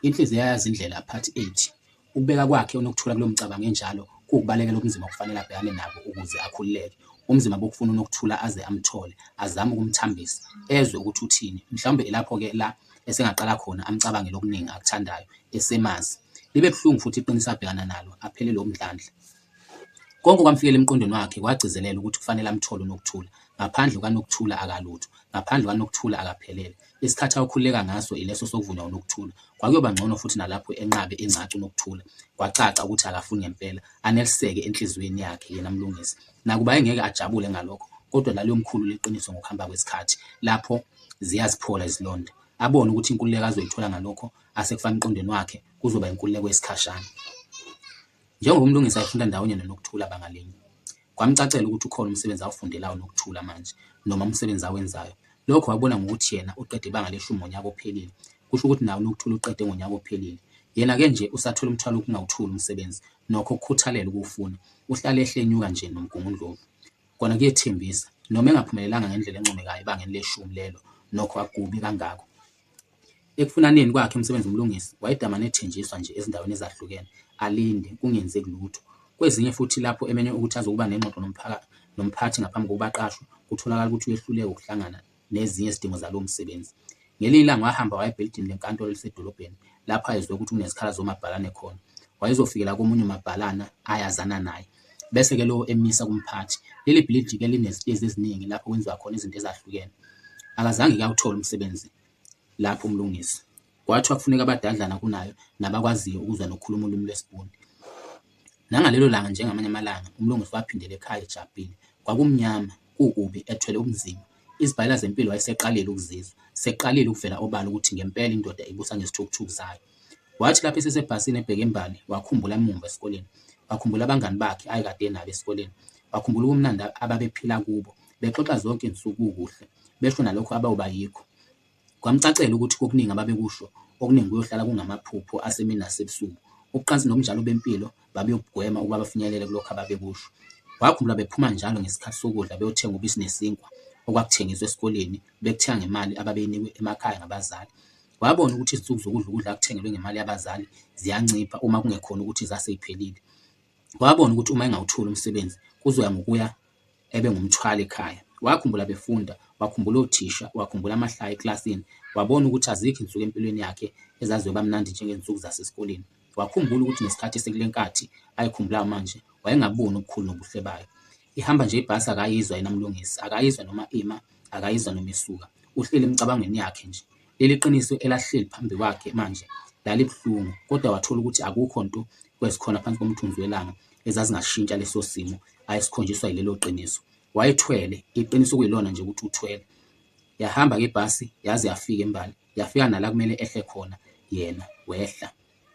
Inhliziyo yayazi indlela, Part 8. Ukubeka kwakhe uNokuthula kulo mcabango enjalo kuwukubalekela ubunzima okufanele abhekane nabo ukuze akhululeke. Ubunzima bokufuna uNokuthula aze amthole, azame ukumthambisa, ezwe ukuthi uthini. Mhlawumbe ilapho-ke la esengaqala khona amcabangele okuningi akuthandayo, esemazi. Libe buhlungu futhi iqiniso abhekana nalo, aphelelwe umdlandla. Konke okwamfikela emqondweni wakhe kwagcizelela ukuthi kufanele amthole uNokuthula. Ngaphandle kukaNokuthula akalutho. Ngaphandle kukaNokuthula akaphelele. Isikhathi ayokhululeka ngaso ileso sokuvunywa uNokuthula. Kwakuyoba ngcono futhi nalapho enqabe ingcacu uNokuthula. Kwacaca ukuthi akafuni ngempela. Aneliseke enhliziyweni yakhe yena Mlungisi. Nakuba engeke ajabule ngalokho, kodwa laliyomkhulula iqiniso ngokuhamba kwesikhathi, lapho ziyaziphola izilonda. Abone ukuthi inkululeko azoyithola ngalokho asekufaka emqondweni wakhe kuzoba inkululeko yesikhashana. Njengoba uMlungisi ayefunda ndawonye noNokuthula banga linye, kwamcacela ukuthi ukhona umsebenzi awufundelayo uNokuthula manje noma umsebenzi awenzayo. Lokho wakubona ngokuthi yena uqede ibanga leshumi ngonyaka ophelile, kusho ukuthi naye uNokuthula uqede ngonyaka ophelile. Yena-ke nje usathwele umthwalo wokungawuthuli umsebenzi nokho ukukhuthalela ukuwufuna. Uhlale ehle enyuka nje noMgungundlovu. Kona kuyethembisa. Noma engaphumelelanga ngendlela encomekayo ebangeni leshumi lelo nokho akukubi kangako. Ekufunaneni kwakhe umsebenzi uMlungisi wayedamane ethenjiswa nje ezindaweni ezahlukene, alinde, kungenzeki lutho. Kwezinye futhi lapho emenywe ukuthi azokuba nengxoxo nomphathi ngaphambi kokuba aqashwe, kutholakala ukuthi uyehluleka ukuhlangana nezinye izidingo zalowo msebenzi. Ngelinye ilanga wahamba waya ebhilidini lenkantolo elisedolobheni lapho ayezwe ukuthi kunezikhalazo zomabhalane khona. Wayezofikela komunye umabhalana ayazana naye. bese-ke lowo emisa kumphathi. Leli bhilidi-ke linezitezi eziningi lapho kwenziwa khona izinto ezahlukene. Akazange-ke awuthole umsebenzi lapho umlungisi. Kwathiwa kufuneka abadadlana kunayo nabakwaziyo ukuzwa nokukhuluma ulimi lwesiBhunu. Nangalelo langa njengamanye amalanga, umlungisi waphindela ekhaya ejabhile. Kwakumnyama, kukubi, ethwele ubunzima. Izibhayela zempilo wayeseqalile ukuzizwa, seqalile ukuvela obala ukuthi ngempela indoda ibusa ngezithukuthuku zayo. Wathi lapho esesebhasini ebheke embali, wakhumbula emumva esikoleni. Wakhumbula abangani bakhe ayekade enabo esikoleni. Wakhumbula ubumnandi ababephila kubo, bexoxa zonke izinsuku kukuhle, besho nalokho abayoba yikho. Kwamcacela ukuthi kokuningi ababekusho, okuningi kuyohlala kungamaphupho asemini nasebusuku. Ubucansi nobunjalo bempilo babeyokugwema ukuba bafinyelele kulokho ababekusho. Wakhumbula bephuma njalo ngesikhathi sokudla beyothenga ubisi nesinkwa okwakuthengiswa esikoleni, bekuthenga ngemali ababeyinikwe emakhaya ngabazali. Wabona ukuthi izinsuku zokudla ukudla akuthengelwe ngemali yabazali ziyancipha uma kungekhona ukuthi zase ziphelile. Wabona ukuthi uma engawutholi umsebenzi kuzoya ngokuya ebengumthwalo ekhaya. Wakhumbula befunda, wakhumbula othisha, wakhumbula amahlaya ekilasini, wabona ukuthi azikho insuku empilweni yakhe ezazoba mnandi njengezinsuku zasesikoleni. Wakhumbula ukuthi nesikhathi esikule nkathi ayikhumbulayo manje wayengaboni ubukhulu nobuhle bayo. Ihamba nje ibhasi akayizwa yena Mlungisi, akayizwa noma ima, akayizwa noma isuka. Uhleli emicabangweni yakhe nje. Leli qiniso elahleli phambi kwakhe manje lalibuhlungu, kodwa wathola ukuthi akukho nto kwezikhona phansi komthunzi welanga ezazingashintsha leso simo ayesikhonjiswa yilelo qiniso. Wayethwele, iqiniso okuyilona nje ukuthi uthwele. Yahamba-ke ibhasi yaze yafika embali, yafika nala kumele ehle khona yena, wehla.